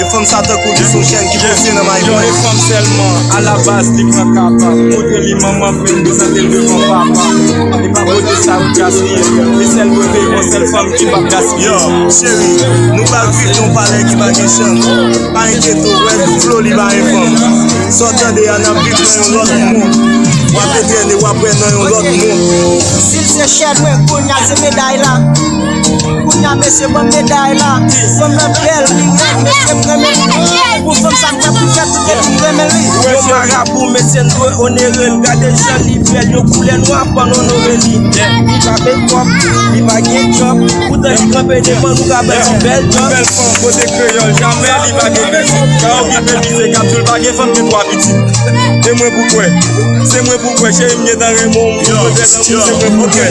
Yon fanm sa tankou li son chen ki pwese nan mayi mwen Yon fanm sèlman, a la baz li pran kapa Kote li manman m vin prezante l devan papa E pa bote sa ou gaspiye E sèl bote yon sèl fanm ki pap gaspiye Yo, cheri, nou pral viv yon palè ki pa gen chanm Pa enkyete w, wè tou flo li pa enfòm Sa w tande a n ap viv nan yon lòt mond W ape trene, w ap wè nan yon lòt mond Si l se chèn mwen, kounya l se meday la Kounya mesye banm meday la Fanm nan bèl li rèd mesye m renmen li Pou fanm sa m pran pou fèt tout epi m renmen li Yon marabou mesye n dwe onere l Gade jan li bèl yon koulè nwa pa n onore li Li pa fè twòp, li pa gen djòb Poutan li tranpe devan nou ka bay yon bèl dòz Yon bèl fanm kote kreyòl jamè li pa gen pitit Ka okipe mize k ap di l pa gen fanm gen twa pitit E mwen pou kwè, se mwen pou kwè Cheri m gentan renmen w m pou pwotèl anmou se mwen pou kwè